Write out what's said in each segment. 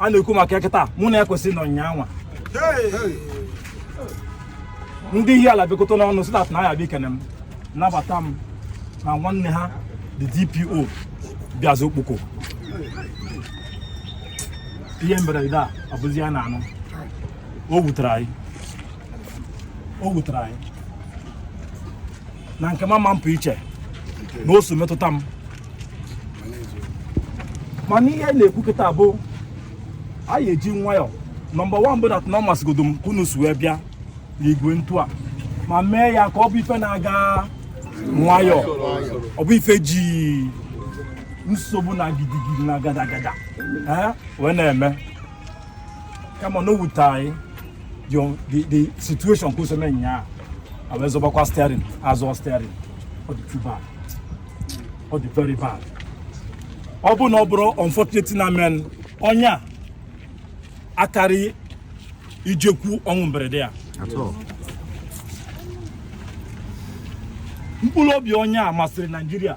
a na-ekwu maka ya kịta bụ na ekwesị nọ nyanwa ndị Ihiala bịakọta n'ọnụ so that na ya bịa ikene m nabata m na nwanne ha the DPO bịazi Okpoko ihe mberede a abụzi ya na-anụ o wutere anyị o wutere anyị na nke mama mpụ iche na o so metụta m mana ihe anyị na-ekwu kịta bụ anyị eji nwayọ number one bụ that na ọ masịgodo m ka unu si wee bịa n'igwe ntu a ma mee ya ka ọ bụ ife na-aga nwayọ ọ bụ ife e ji nsogbu na gidigidi na gadagada e wee na-eme kama na o wute anyị the the situation ka e si eme nya a wee zọbakwa steering azọ steering ọ dị too bad ọ dị very bad ọ bụ na ọ bụrụ unfortunate na men onye a akarị ijekwu ọnwụ mberede ya mkpụrụ obi onye a masịrị naijiria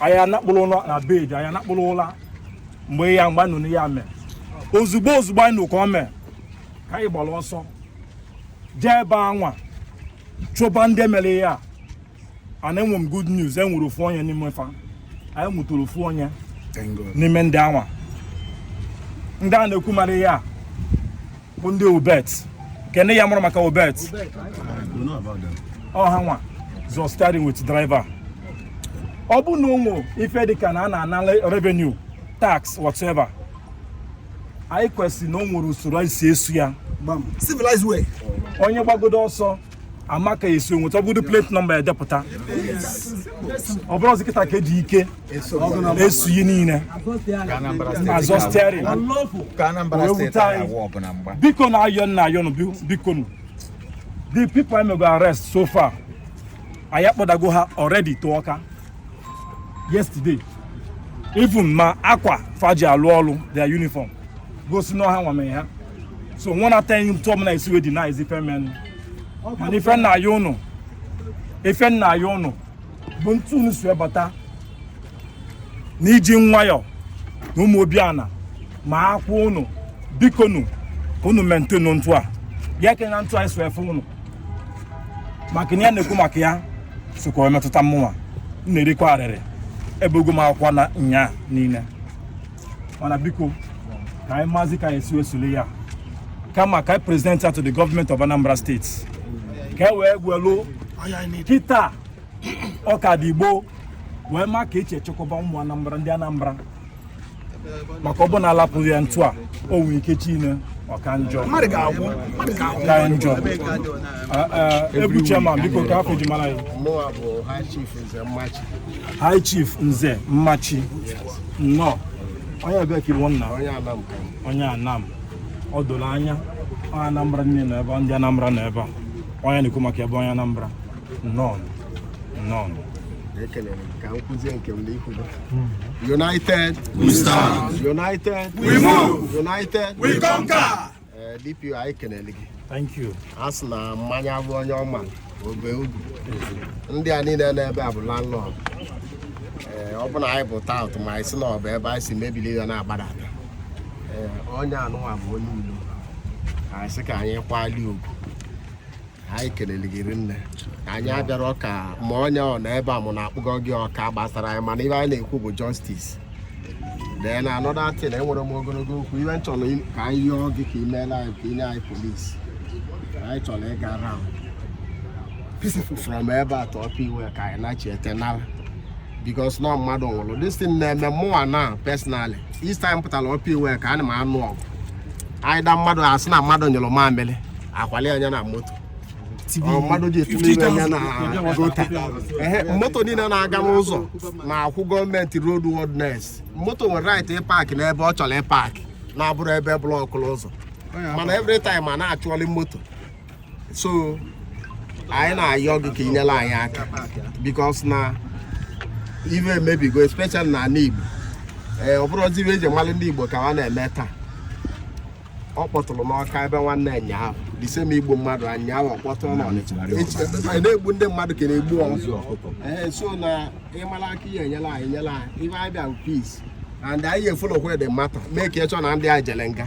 anyị anakpurọ ụla na bed anyị anakpurọ ụla mgbe ya mgbe a nụ nya mee ozugbo ozugbo anyị nụ ka ọ mee ka anyị gbara ọsọ jee ebe anwa chụba ndị mere ya ana enwe m good news e nwere ofu onye n'ime fa anyị nwetara ofu onye n'ime ndị anwa ndị a na-ekwu mere ya bụ ndị obet nke ndị ya mụrụ maka obet ọ hanwa zọ steering with driver ọ bụ na o nwe ife dịka na a na-ana revenue tax whatever anyị kwesịrị na o nwere usoro anyị si esu ya civilized way onye gbagodo ọsọ a ma ka e si enweta ọ bụdu plate number edepụta ọ bụrọzi kịta ka e ji ike esu ihe niile azọ steering ka Anambra Wee steeti wute anyị. anyị awụ ọbụla mgba bikonụ ayọ m na-ayọ nụ bi- biko nụ the people anyị mego arrest so far anyị akpọdago ha already to Awka yesterday even ma akwa fa ji alụ ọlụ their uniform gosi na ọ hanwa mere ya so nwa na ten tụọ m na esi wee deny is ife men mana ife m na-ayọ ụnụ ife m na-ayọ ụnụ bụ ntu unu si ebata na iji nwayọ na ụmụ obiana ma akwụ ụnụ bikonu unu maintain ntụ a ya ekene na ntụ anyị so efe ụnụ maka na ya na-ekwu maka ya sokwa wee metụta mụnwa m na-erikwa arịrị ebego m akwa na nya niile mana biko ka anyị maazị ka e si wee sule ya kama ka anyị present ya to the government of Anambra State ka e wee gwelu kịta ọ ka dị gboo wee ma ka e je echekwaba ụmụ Anambra ndị Anambra maka ọ bụ na alapụ ya ntu a o nwere ike echi ime ọ ka njọ ka njọ ebu chairman biko ka afọ ji mara ya high chief nze mmachi nnọọ onye ebe ka ị bụ nna onye anam o doro anya onye anambra nọ n'ebe ndị anambra nọ ebe a onye na-ekwu maka ebe onye anambra nọn nọn ekelere m ka m kwuzie nke m n'ikwudo united We stand. united We move. united We conquer. Eh, DPO anyị kelere gị thank you a sị na mmanya bụ onye ọma obe ugwu ndị a niile n'ebe a bụ landlord ee ọ bụ na anyị bụ tout ma anyị si na ọ bụ ebe anyị si mebiri ya na-agbada ada ee onye anụnwa bụ onye ilo anyị sị ka anyị kwali ugwu anyị kelere gị rinne anyị abịara ọka ma onye ọ na ebe a mụ na-akpụgọ gị ọka gbasara anyị mana ive anyị na-ekwu bụ justice then another thing enwerọ m ogologo okwu ive m chọrọ ka anyị yọọ gị ka i meelụ anyị ka i nye anyị polisi anyị chọrọ ịga round peaceful from ebe a tụọ ọkụ iwe ka anyị nachi ete nara because na mmadụ nwụrụ this thing na-eme mụnwa na personally each time pụtara ọkụ iwe ka ana m anụ ọgụ anyị da mmadụ asị na mmadụ nyụrụ mamịrị akwali anya na moto mmadụ ji etinye anya na gota moto niile na-aga n'ụzọ na-akwụ gọọmenti road worthiness moto nwere right ịpark n'ebe ọ chọrọ ịpark na-abụrọ ebe block ụzọ mana every time a na-achụọli moto so anyị na-ayọ gị ka i nyere anyị aka because na ive emebigo especially na ala Igbo ee ọ bụrụzi ive e ji malụ ndị Igbo ka ha na-eme taa ọ kpọtụrụ n'ọka ebe nwanne ụnyaahụ this same igbu mmadụ ụnyaahụ ọ kpọtụrụ n'ọnịcha na-egbu ndị mmadụ ka a na-egbu ọzọ ee so na ị mara aka ị ya-enyelụ anyị nyelụ anyị ive anyị bịa peace and anyị e-follow kwa the matter make sure na ndị a jele nga